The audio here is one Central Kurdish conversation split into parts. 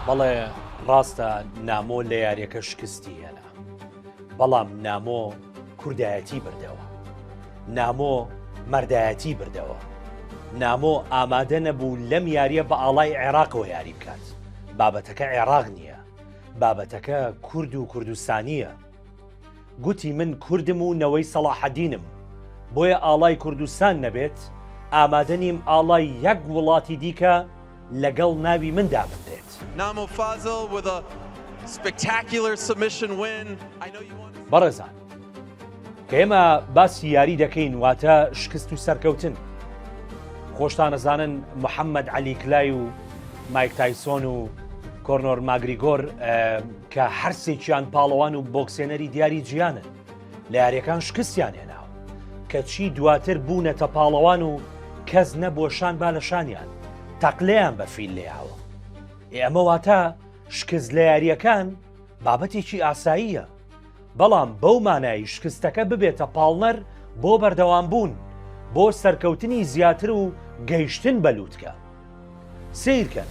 بەڵێ ڕاستە نامۆ لە یاریەکە شکستی هێنا بەڵام نامۆ کوردایەتی بردەوە نامۆ مەردایەتی بردەوە نامۆ ئامادە نەبوو لەم یاریە بە ئاڵای عێراقەوە یاری بکات بابەتەکە عێراق نییە بابەتەکە کورد و کوردستانیە گوتی من کوردم و نەوەی سەڵاحەدینم، بۆیە ئاڵای کوردستان نەبێت، ئامادە نیم ئاڵای یەک وڵاتی دیکە لەگەڵ ناوی من دابنرێت. بەڕێزان، کە ئێمە باسی یاری دەکەین، واتە شکست و سەرکەوتن. خۆشتان ئەزانن محەممەد عەلی کلای و مایک تایسۆن و کۆرنۆر ماگریگۆر، کە هەرسێکیان پاڵەوان و بۆکسێنەری دیاری جیانن، لە یاریەکان شکستیان هێناوە، کەچی دواتر بوونەتە پاڵەوان و کەس نەبووە شان با لە شانیان تەقلەیان بە فیل لێیاوە. ئێ ئەمە واتە شکست لە یاریەکان بابەتێکی ئاساییە، بەڵام بەو مانای شکستەکە ببێتە پاڵنەر بۆ بەردەوام بوون، بۆ سەرکەوتنی زیاتر و گەیشتن بە لووتکە. سەیرکەن.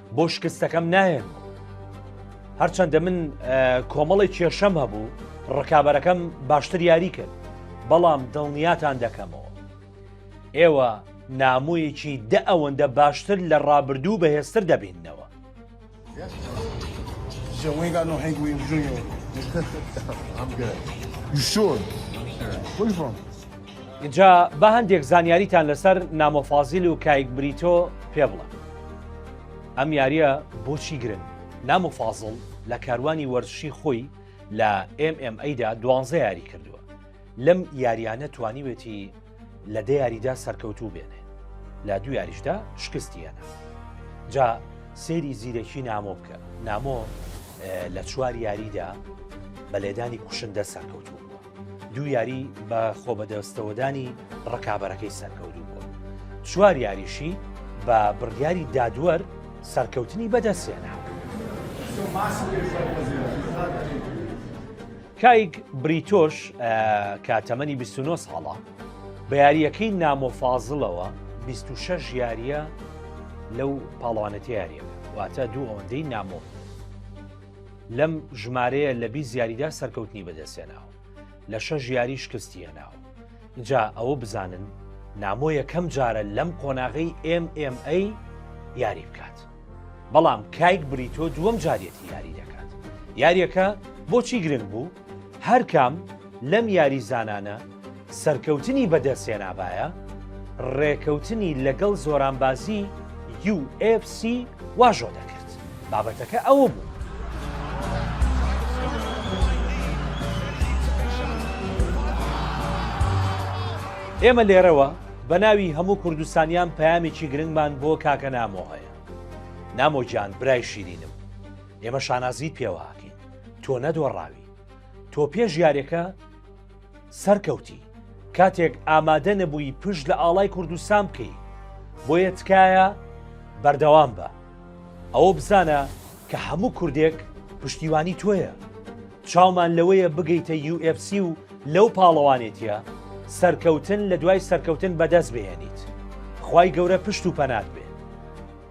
بۆ شکستەکەم ناهێن هەرچەندە من کۆمەڵی کێشەم هەبوو ڕکابەرەکەم باشتر یاری کرد بەڵام دڵنیاتان دەکەمەوە ئێوە نامویەکی دە ئەوەندە باشتر لە ڕابردوو بەهێزتر دەبینەوە شۆن جا با هەندێک زانیاریتان لەسەر نامۆ فازیل و کایک بریتۆ پێ بڵێم ئەم یاریە بۆچی گرنگ نام و فازڵ لە کاروانی وەرزشی خۆی لە MMAدا دوانزە یاری کردووە لەم یاریانە توانیوێتی لە دە یاریدا سەرکەوتوو بێنێ لە دوو یاریشدا شکستی هەنا جا سێری زیرەکی نامۆ بکە نامۆ لە چوار یاریدا بە لێدانی کوشندە سەرکەوتوو دوو یاری بە خۆ بەدەستەوەدانی ڕکابەرەکەی سەرکەوتوو بوو چوار یاریشی بە بڕیاری دادوەر سەرکەوتنی بەدەستێنا کایک بریتۆش کە تەمەنی 29 ساڵە بە یاریەکەی نامۆفازڵەوە 26 یاریە لەو پاڵوانەتی یاریە واتە دوو ئەوەندەی نامۆ لەم ژمارەیە لە بیست یاریدا سەرکەوتنی بەدەستێناوە لە شەش یاری شکستی هێناوە جا ئەوە بزانن نامۆ یەکەم جارە لەم قۆناغی MMA یاری بکات بەڵام کایک بریتۆ دووەم جارەتی یاری دەکات یاریەکە بۆچی گرنگ بوو هەرکام لەم یاریزانانە سەرکەوتنی بەدەستهێنابایە، رێکەوتنی لەگەڵ زۆرانبازی یو ئێف سی واژۆ دەکرد، بابەتەکە ئەوە بوو. ئێمە لێرەوە بە ناوی هەموو کوردستانیان پەیامێکی گرنگمان بۆ کاکە نامۆ هەیە. نامۆ گیان برای شیرینم، ئێمە شانازیت پێوە ئەکەین، تۆ نەدۆڕاوی، تۆ پێش یاریەکە، سەرکەوتی کاتێک ئامادە نەبووی پشت لە ئاڵای کوردستان بکەی بۆیە تکایە بەردەوام بە ئەوە بزانە کە هەموو کوردێک پشتیوانی تۆیە چاومان لەوەیە بگەیتە UFC و لەو پاڵەوانێتە سەرکەوتن لە دوای سەرکەوتن بەدەست بێنیت خی گەورە پشت و پەنات بێ